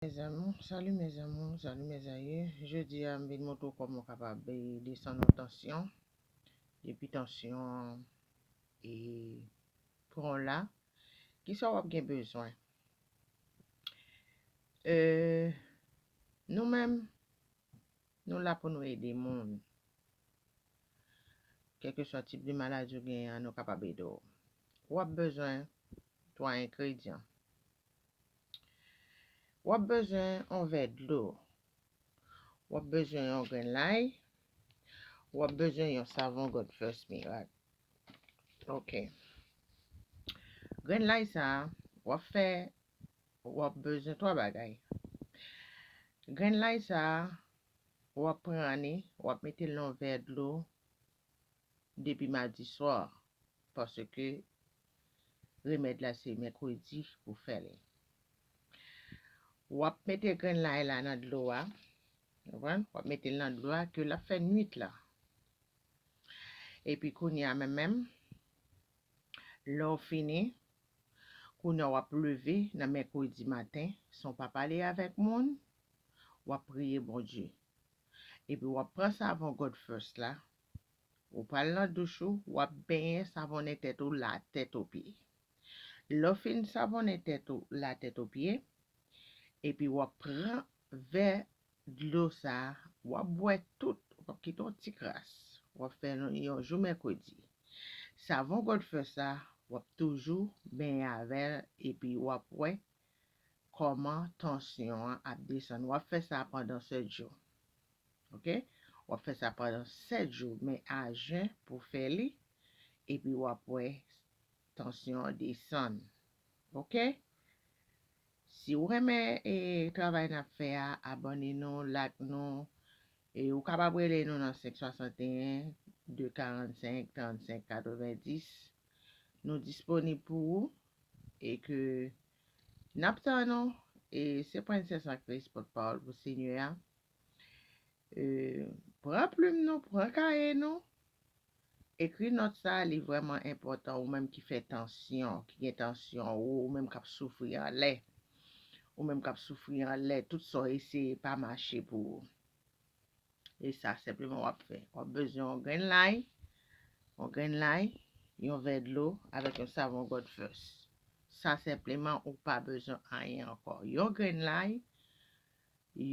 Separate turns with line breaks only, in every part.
Mes amours, salut mes amours, salut mes aïeux, jodi a m vin montre w kòman w kapab desann yon tansyon, depi tansyon an e pran w la, kisa w ap gen bezwen? Euh, nou menm, nou la pou nou ede moun, kèlkeswa tip de maladi w genyen an nou kapab ede w, w ap bezwen 3 engredyan, W ap bezwen yon vè dlo. W ap bezwen yon grenn lay. W ap bezwen yon savon God First Mirak. Ok. Grenn lay sa a, w ap fè, w ap bezwen twa bagay. Grenn lay sa a, w ap pran li, w ap mete l nan yon vè dlo depi madi swa paske Remèd la se mèkredi pou fè l. Wap mete grenn lay la nan dlo a, konprann? Wap mete l nan dlo a ke lap fè nwit la. Epi kounye a menm menm, lè w fini, kounye a wap leve nan mèkredi maten san w pa pale avèk moun, wap priye Bondye. Epi wap pran savon God First la, Ou pral nan douch ou, wap benyen savonnen tèt ou la tèt o pye. Lèw fin savonnen tèt ou la tèt o pye, epi wap pran vè dlo sa, wap bwè tout, wap kite yon ti kras, wap fè yon jou mèkredi. Savon God First sa, wap toujou benyen avèl epi wap wè kòman tansyon an ap desann. Wap fè sa pandan 7 jou. ok wap fè sa pandan 7 jou men a jen pou fè li epi wap wè tansyon an desann ok si ou renmen e travay nap fè a abòne nou lak nou e ou kapab rele nou nan 561 245 35 90 nou disponib pou ou e ke nap tann ou e se Princess Actrice pòtpawòl pou senyè a. Pran plim nou, pran kaye nou, ekri nòt sa a, li vrèman enpòtan ou menm ki fè tansyon, ki gen tansyon wo, ou menm k ap soufri anlè, ou menm k ap soufri anlè, tout sa w eseye pa mache pou ou. E sa senpleman w ap fè, w ap bezwen yon grenn lay, yon grenn lay, yon vè dlo avèk yon savon God First. Sa senpleman ou pa bezwen anyen ankò. Yon grenn lay,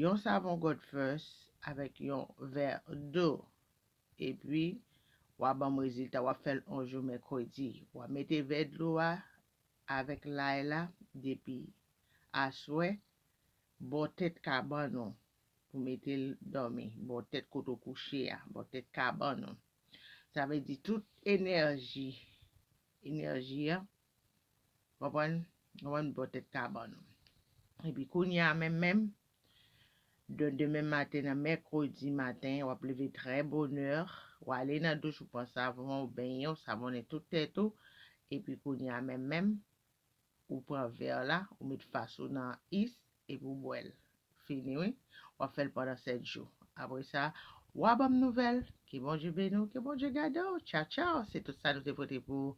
Yon savon God first avèk yon vè do epi wa banm rezilta wap fèl on jou mèkredi wa mete vè dlo a avèk lay la depi aswè bò tèt kabann ou pou metel dòmi bò tèt kote ou kouche a bò tèt kabann ou sa vle di tout enèji enèji an Konprann? Konprann bò tèt kabann ou. Epi kounye a menm menm, de demen maten nan mèkredi maten, w ap leve trè bonè, w ale nan douch ou pran savon, ou benyen, ou savonnen tout tèt ou, epi kounye a menm menm, ou pran vè la, ou met fas ou nan is, epi w bwè l. Fini wi. W ap fè l pandan 7 jou. Apre sa, wa ban m nouvèl. Ke Bondye beni w, ke Bondye gade w. Tchaw tchaw. Se tout sa nou te pote pou ou.